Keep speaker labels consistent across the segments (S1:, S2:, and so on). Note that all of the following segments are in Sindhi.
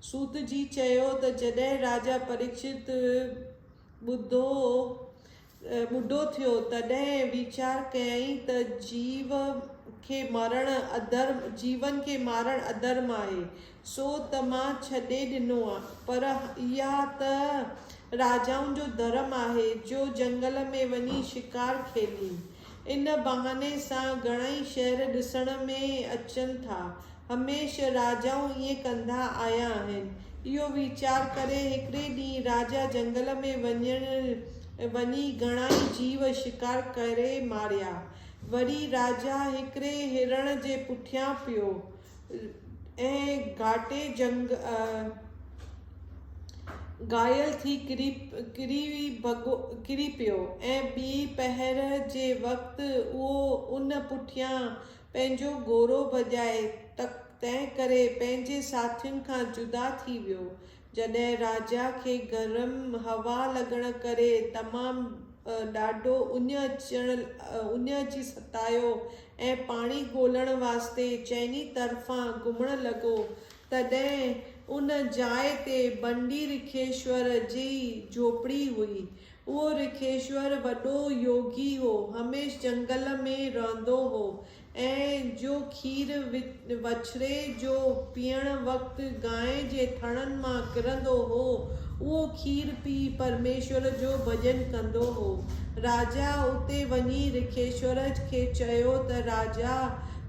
S1: سوت جي چيو ته جڏهن راجا پريڪشت ٻڌو ٻڍو ٿيو تڏهن ويچار ڪيائين ته جيو کي مارڻ اڌرم جيون کي مارڻ اڌرم آهي سو ته مان ڇڏي ڏنو پر اها ته راجائن جو ڌرم آهي جو جنگل ۾ وڃي شڪار کيڏين ان بهاني سان گهڻائي شهر ڏسڻ ۾ اچن ٿا. هميشه راجائون ائين ڪندا آيا آهن. اهو ويچار ڪري هڪڙي ڏينهن راجا جهنگل ۾ وڃڻ وڃي گهڻائي جيو شڪار ڪري ماريا. وري راجا هڪڙي هرڻ جي پٺيان پيو. ۽ گهاٽي جهنگ گهايل ٿي ڪري پيو ۽ ٻي پهر جي وقت اهو ان پٺيان پنهنجو گهوڙو ڀڄائي تنهنڪري پنهنجي ساٿين کان جدا ٿي ويو جڏهن راجا کي گرم هوا لڳڻ ڪري تمام ڏاڍو اڃ اچڻ اڃ اچي ستايو ۽ پاڻي ڳولڻ واسطي چئني طرفان گهمڻ لڳو، تڏهن ان جاء تي بنڊي رکيشور جي جهوپڙي هئي. اهو رکيشور وڏو يوگي هو، هميشھ جهنگل ۾ رهندو هو ۽ جو کير وڇڙي جو پيئڻ وقت گانء جي ٿڻن مان ڪرندو هو، اهو کير پي پرميشور جو ڀڄن ڪندو هو. راجا اتي وڃي رکيشور کي چيو ته راجا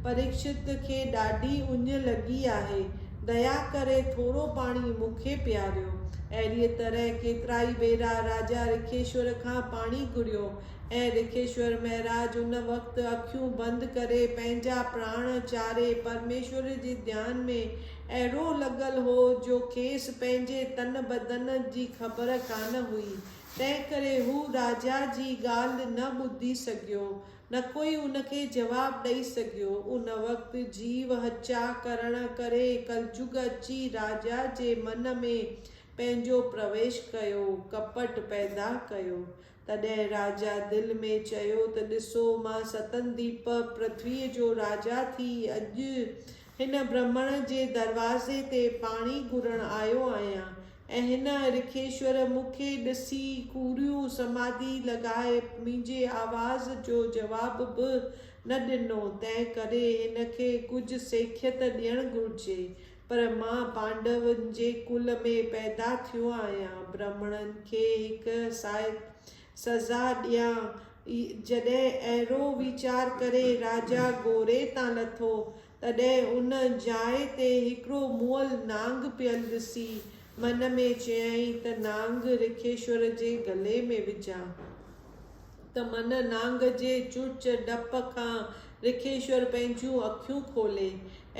S1: پريڪشت کي ڏاڍي اڃ لڳي آهي، ديا ڪري ٿورو پاڻي مون کي پياريو. اهڙيء طرح ڪيترائي ڀيرا راجا رکيشور کان پاڻي گهريو اي رکيشور مهراج، ان وقت اکيون بند ڪري پنهنجا پراڻ چاري پرميشور جي ڌيان ۾ اهڙو لڳل هو جو کيس پنهنجي تن بدن جي خبر ڪانه هئي، تنهنڪري هو راجا جي ڳالهه نه ٻڌي سگهيو، نڪوئي ان کي جواب ڏئي سگهيو. ان وقت جيو هچا ڪرڻ ڪري ڪلجگ اچي راجا جي من ۾ پنهنجو پرويش ڪيو، ڪپٽ پيدا ڪيو. تڏهن راجا دل ۾ چيو ته ڏسو، مان ستن ديپ پرٿويء جو راجا ٿي اڄ هن برهمڻ جي دروازي تي پاڻي گهرڻ آيو آهيان ۽ هن رکيشور مون کي ڏسي ڪوڙيون سماڌي لڳائي منهنجي آواز جو جواب به نه ڏنو، تنهنڪري هن کي ڪجهه سيکيت ڏيڻ گهرجي، پر مان پانڊون جي ڪل ۾ پيدا ٿيو آهيان، برهمڻن کي هڪ سائت سزا ڏيان. جڏهن اهڙو ويچار ڪري راجا گوري تان لٿو، تڏهن ان جاء تي هڪڙو مئل نانگ پيل ڏسي، من ۾ چيائين ته نانگ رکيشور جي گلي ۾ وجهان، ته من نانگ جي چرچ ڊپ کان رکيشور پنهنجون اکيون کولي.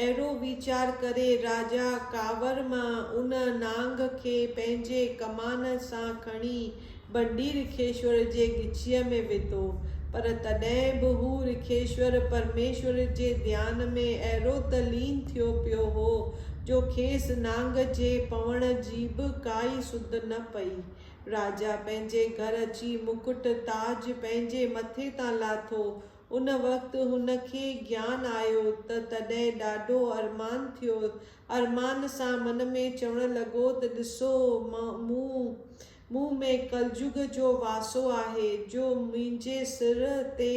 S1: اهڙو ويچار ڪري راجا ڪاوڙ مان ان نانگ کي پنهنجي ڪمان سان کڻي ڀنڊي رکيشور جي ڳچيء ۾ وڌو. پر تڏهن به هو رکيشور پرميشور جي ڌيان ۾ اهڙو ته لين ٿيو پيو هو جو کيس نانگ جي پوڻ جي به ڪائي سڌ نه پئي. راجا پنهنجي گهر اچي مڪٽ تاج پنهنجي مٿي تان لاٿو. ان وقت هن کي گيان آيو ته تڏهن ڏاڍو ارمان ٿيو. ارمان سان من ۾ چوڻ لڳو ته ڏسو مون مون ۾ ڪلجگ جو واسو آهي جو منهنجي سر تي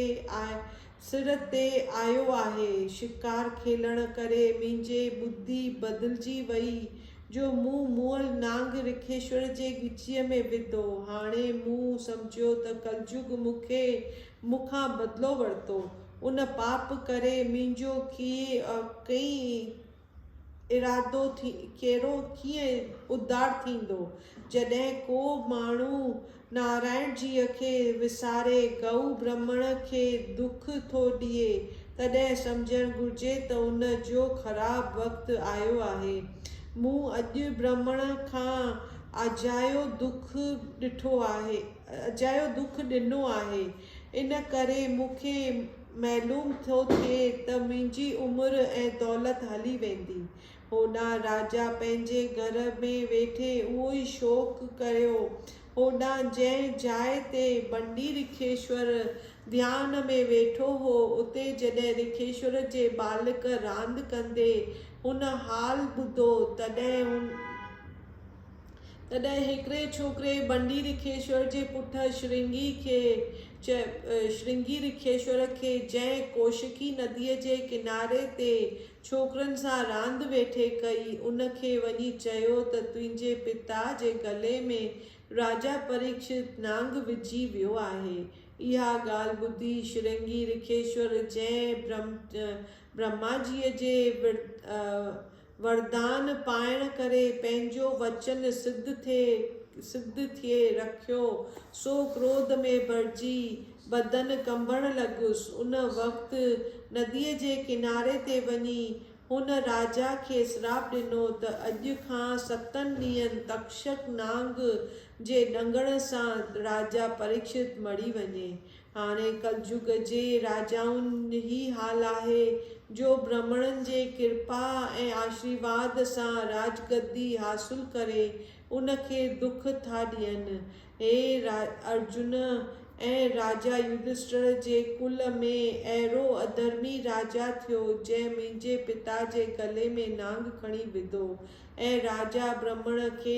S1: سر تي آيو آهي. شڪار کيلڻ ڪري منهنجي ٻڌي بدلجي وئي جو مون مئل نانگ رکيشور جي ڳچيء ۾ وڌو. هاڻي مون سمجهيو ته ڪلجگ مون کي مون کان بدلو ورتو. ان پاپ ڪري منهنجو ڪيئي ارادو ڪيرو ڪيئي ادار ٿيندو. جڏهن ڪو ماڻهو نارائڻ جيء کي وساري گئو برهمڻ کي دک ٿو ڏئي تڏهن سمجهڻ گهرجي ته ان جو خراب وقت آيو آهي. مون اڄ برهمڻ کان اجايو دک ڏٺو آهي. اجايو دک ڏنو آهي ان ڪري مون کي معلوم ٿو ٿئي ته منهنجي عمر ۽ دولت هلي ويندي. هوڏانهن راجا پنهنجي گهر ۾ ويٺي اهو ئي شوق ڪيو. هوڏانهن جنهن جاء تي بنڊي رکيشور ڌيان ۾ ويٺو هو اتي جڏهن رکيشور جي ٻالڪ راند ڪندي هن حال ٻڌو تڏهن هن. تڏهن هڪڙي ڇوڪري بنڊي رکيشور جي پٽ شرنگي کي چيو، شرنگي رکيشور کي جنهن ڪوشڪي نديء جي ڪناري تي ڇوڪرن سان راند ويٺي ڪئي، ان کي وڃي چيو ته تنهنجي پتا جي گلي ۾ راجا پريڪشت نانگ وجهي ويو آهي. اها ڳالهه ٻڌي شرنگي رکيشور جنهن برهما جيء جي وردان پائڻ ڪري پنهنجو وچن سڌ ٿئي سڌ ٿئي رکيو، سو ڪروڌ ۾ ڀرجي بدن ڪنبڻ لڳس. ان وقت نديء جي ڪناري تي وڃي هن راجا کي سراپ ڏنو ته اڄ کان ستن ڏينهن تڪشڪ نانگ جي ڏنگڻ سان راجا پريڪشت مري وڃي. هاڻي ڪلجگ جي راجائن هي حال آهي، جو برهمڻن جي ڪرپا ۽ آشريواد سان راجگدي حاصل ڪري ان کي دک ٿا ڏين. هي ارجن ۽ راجا يڌشٽر جي ڪل ۾ اهڙو اڌرمي راجا ٿيو، جنهن منهنجي پتا جي گلي ۾ نانگ کڻي وڌو ۽ راجا برهمڻ کي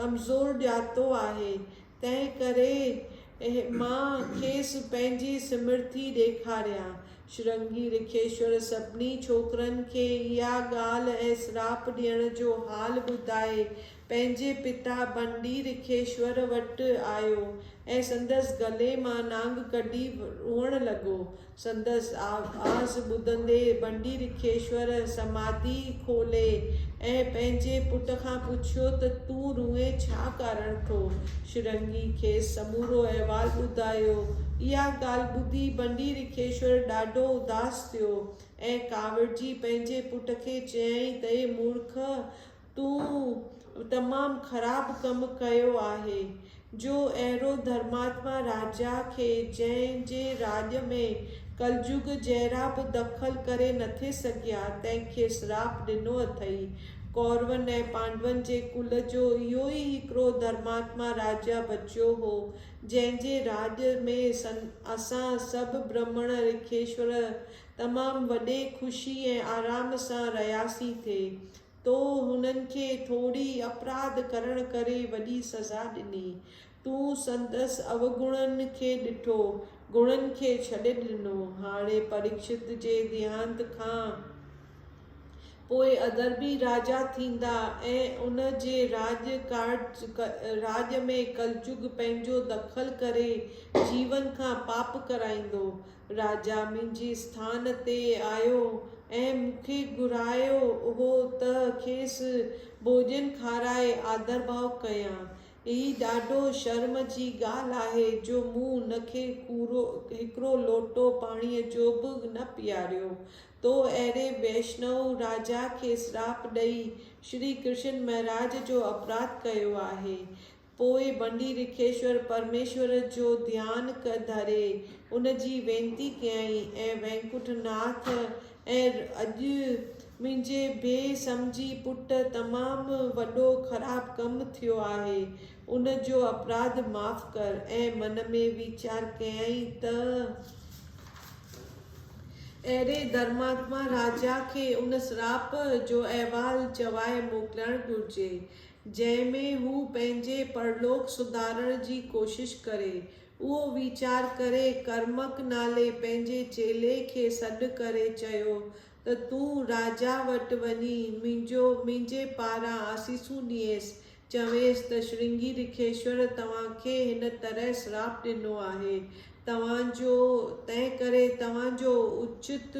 S1: ڪمزور ڄاتو آهي. تنهن ڪري مان کيس پنهنجي سمرٿي ڏيکاريان. شرنگي رکيشور سڀني ڇوڪرن کي اها ڳالهه ۽ سراپ ڏيڻ جو حال ٻڌائي، پنهنجي پتا ڀنڊي رکيشور وٽ آيو ۽ سندس گلي مان نانگ ڪڍي روئڻ لڳو. سندس آواز ٻڌندي بنڊي رکيشور سماڌي کولي ۽ پنهنجي پٽ کان پڇيو ته تون روئين ڇا ڪارڻ ٿو؟ شرنگي کيس سمورو احوال ٻڌايو. اها ڳالهه ٻڌي بنڊي رکيشور ڏاڍو اداس ٿيو ۽ ڪاوڙجي پنهنجي پٽ کي چيائين ته اي مورک! تون تمام خراب ڪم ڪيو آهي، جو اهڙو ڌرماتما راجا کي جنهن جي راڄ ۾ ڪلجوڳ جهڙا به دخل ڪري نٿي سگهيا، تنهن کي سراپ ڏنو اٿئي. ڪورون ۽ پانڊون جي ڪل جو اهو ئي هڪڙو ڌرماتما راجا بچيو هو، جنهن جي راڄ ۾ اسان سڀ برهمڻ رکيشور تمام وڏي خوشي ۽ آرام سان رهياسين ٿي. تو هنن کي ٿوري اپراڌ ڪرڻ ڪري وڏي سزا ڏني. تون سندس اوگڻن کي ڏٺو، گڻن کي ڇڏي ڏنو. هاڻي پريڪشت جي ديهانت کان پوء اڌرمي راجا ٿيندا ۽ ان جي راڄ ڪارج راڄ ۾ ڪلجگ پنهنجو دخل ڪري جيون کان پاپ ڪرائيندو. راجا منهنجي اسٿان تي آيو ۽ مون کي گهرايو هو ته کيس ڀوڄن کارائي آڌرڀاء ڪيان. هي ڏاڍو شرم جي ڳالهه آهي جو مون هن کي ڪورو هڪڙو لوٽو پاڻيء جو به نه پياريو. تو اهڙي ويشنو راجا کي سراپ ڏئي شري ڪرشن مهراج جو اپراڌ ڪيو آهي. پوء بنڊي رکيشور پرميشور جو ڌيان ڪ ڌري ان جي وينتي ڪيائين اي وينڪٺ ناٿ اي اڄ منهنجي بي سمجهي پٽ تمام وڏو خراب ڪم ٿيو آهي ان جو اپراڌ معاف ڪر اي من ۾ ويچار ڪيائين ته اهڙي ڌرماتما راجا کي ان سراپ جو احوال چوائي موڪلڻ گهرجي جنهن ۾ هو پنهنجي پرلوڪ سڌارڻ جي ڪوشش ڪري. اهو ويچار ڪري ڪرمڪ نالي پنهنجي چيلي کي سڏ ڪري چيو ته تون راجا وٽ وڃي منهنجو منهنجي پاران آسيسون ڏينس، چوينس ته شرنگي رکيشور توهان کي هن طرح سراپ ڏنو آهي توهان جو تنهن ڪري توهان جو اچت